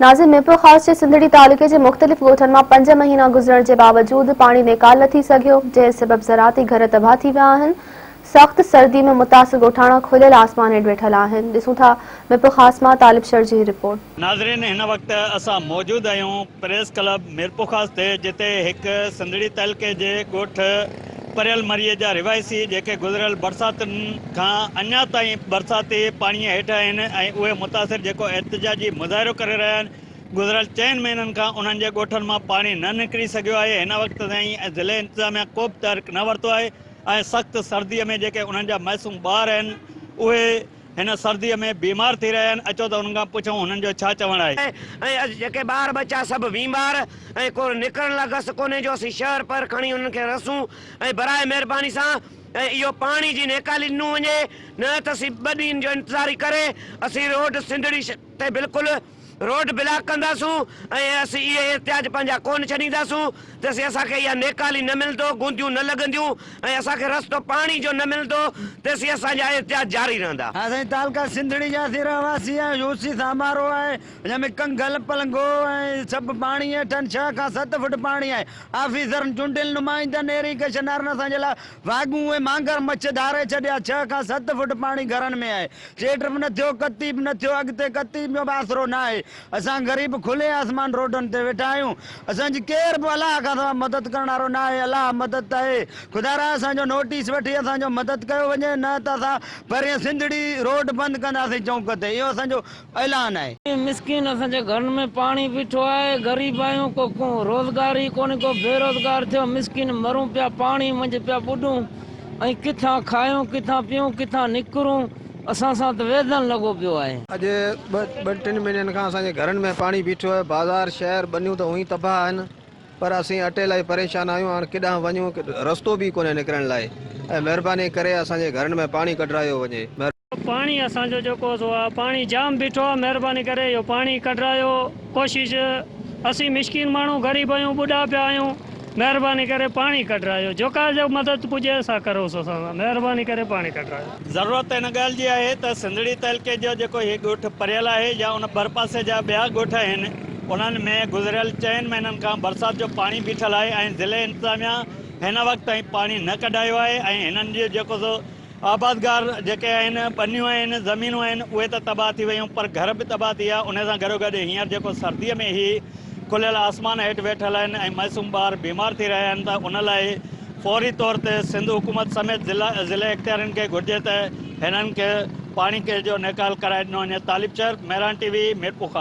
ناظم ميرپور خاص جي سنڌڙي تعلقي جي مختلف ڳوٺن مان پنج مهينا گذرڻ جي باوجود پاڻي نيڪال نه ٿي سگهيو، جنهن سبب زراعتي گهر تباهه ٿي ويا آهن، سخت سردي ۾ متاثر ڳوٺاڻا کليل آسمان هيٺ ويٺل آهن، ڏسون ٿا ميرپورخاص مان طالب شر جي هي رپورٽ. ناظرين هن وقت اسان موجود آهيون پريس ڪلب ميرپورخاص تي جتي هڪ سنڌڙي تعلقي جي ڳوٺ. پريل مريء جا رهواسي جيڪي گذريل برساتن کان اڃا تائين برساتي پاڻيء هيٺ آهن ۽ اهي متاثر جيڪو احتجاجي مظاهرو ڪري رهيا آهن گذريل چئن مهينن کان انهن جي ڳوٺن مان پاڻي نه نڪري سگهيو آهي هن وقت تائين ضلعي انتظاميا ڪوبه تحرڪ نه ورتو آهي ۽ سخت سردي ۾ جيڪي انهن جا معصوم ٻار آهن اهي هن سرديء ۾ بيمار ٿي رهيا آهن، اچو ته انهن کان پڇون هنن جو ڇا چوڻ آهي. ۽ اڄ جيڪي ٻار ٻچا سڀ بيمار ۽ ڪو نڪرڻ لا گس ڪونهي جو اسين شهر پهر کڻي انهن کي رسون ۽ برائي مهرباني سان ۽ اهو پاڻي جي نيڪالي ڏنون وڃي نه ته اسين ٻه ڏينهن جو انتظاري ڪري اسين روڊ سنڌڙي تي بلڪل روڊ بلاڪ ڪنداسون ۽ اسين اهي احتجاج پنهنجا ڪونه ڇڏينداسون تيسين اسان کي اها نيڪالي نه ملندو، گونديون نه لڳنديون ۽ اسان کي رستو پاڻي جو نه ملندو تيسين اسان جا احتجاج جاري رهندا. اسين تعلقه سنڌڙي جا اسين رهواسي آهيون، يو سي سامارو آهي ان ۾ ڪنگل، پلنگو ۽ سڀ پاڻي هيٺن ڇهه کان ست فوٽ پاڻي آهي، آفيسرن، چونڊيل نمائندن، ايري ڪشنرن اسان جي لاء واڳون ۽ مانگر مڇ ڌاري ڇڏيا، ڇهه کان ست فوٽ پاڻي گهرن ۾ آهي، چيٽ به نه ٿيو ڪتي به نه ٿيو اڳتي ڪتي جو به آسرو ناهي اسان غريب کلي آسمان روڊن تي ويٺا آهيون اسان جي ڪير به الله کان سوا مدد ڪرڻ وارو ناهي الله مدد ته اي خدارا اسان جو نوٽيس وٺي اسان جو مدد ڪيو وڃي نه ته اسان پرين سنڌڙي روڊ بند ڪنداسين چونڪ تي اهو اسان جو اعلان آهي. مسڪين اسان جي گهرن ۾ پاڻي بيٺو آهي غريب آهيون ڪو روزگار ئي ڪونهي ڪو بيروزگار ٿيو مسڪين مرون پيا پاڻي منجهه پيا ٻڏون ۽ ڪٿان کايون ڪٿان پيئون ڪٿان نڪرون اسان سان ته ويڌن لڳو پيو آهي. اڄ ٻه ٻن ٽن مهينن کان اسان جي گهرن ۾ پاڻي بيٺو آهي بازار شهر ٻنيون ته هونئين تباهه آهن پر اسين اٽيل ۽ پريشان آهيون هاڻ ڪيڏانهن وڃون رستو به ئي ڪونهي نڪرڻ لاء ۽ مهرباني ڪري اسان جي گهرن ۾ پاڻي ڪڍرايو وڃي. پاڻي اسان جو جيڪو سو آ پاڻي جام بيٺو آ مھرباني ڪري اھو پاڻي ڪڍرايو ڪوشش اسين مسڪين ماڻھو غريب آھيون ٻڍا پيا آھيون مھرباني ڪري پاڻي ڪڍرايو جيڪا جيڪا مدد پڄي سا ڪروس اسان سان مھرباني ڪري پاڻي ڪڍرايو. ضرورت ان ڳالھ جي آھي ته سنڌڙي تعلقي جو جيڪو ھي ڳوٺ پريل آھي يا ان ڀرپاسي جا ٻيا ڳوٺ آھن انھن ۾ گذريل چئن مھينن کان برسات جو پاڻي بيٺل آھي ۽ ضلعي انتظاميا ھن وقت تائين پاڻي نه ڪڍايو آھي ۽ ھنن جو جيڪو سو آبادگار جيڪي آهن، ٻنيون آهن، زمينون آهن، اهي ته تباهه ٿي ويون پر گهر به تباهه ٿي ويا. انهي سان گڏوگڏ هينئر جيڪو سرديء ۾ هي کليل آسمان هيٺ ويٺل آهن ۽ معصوم ٻار بيمار ٿي رهيا آهن ته ان لاء فوري طور تي سنڌ حڪومت سميت ضلعي اختيارين کي گهرجي ته هنن کي پاڻي جو نيڪال ڪرائي ڏنو وڃي. Talib Sher, Mehran T V, Mirpurkhas.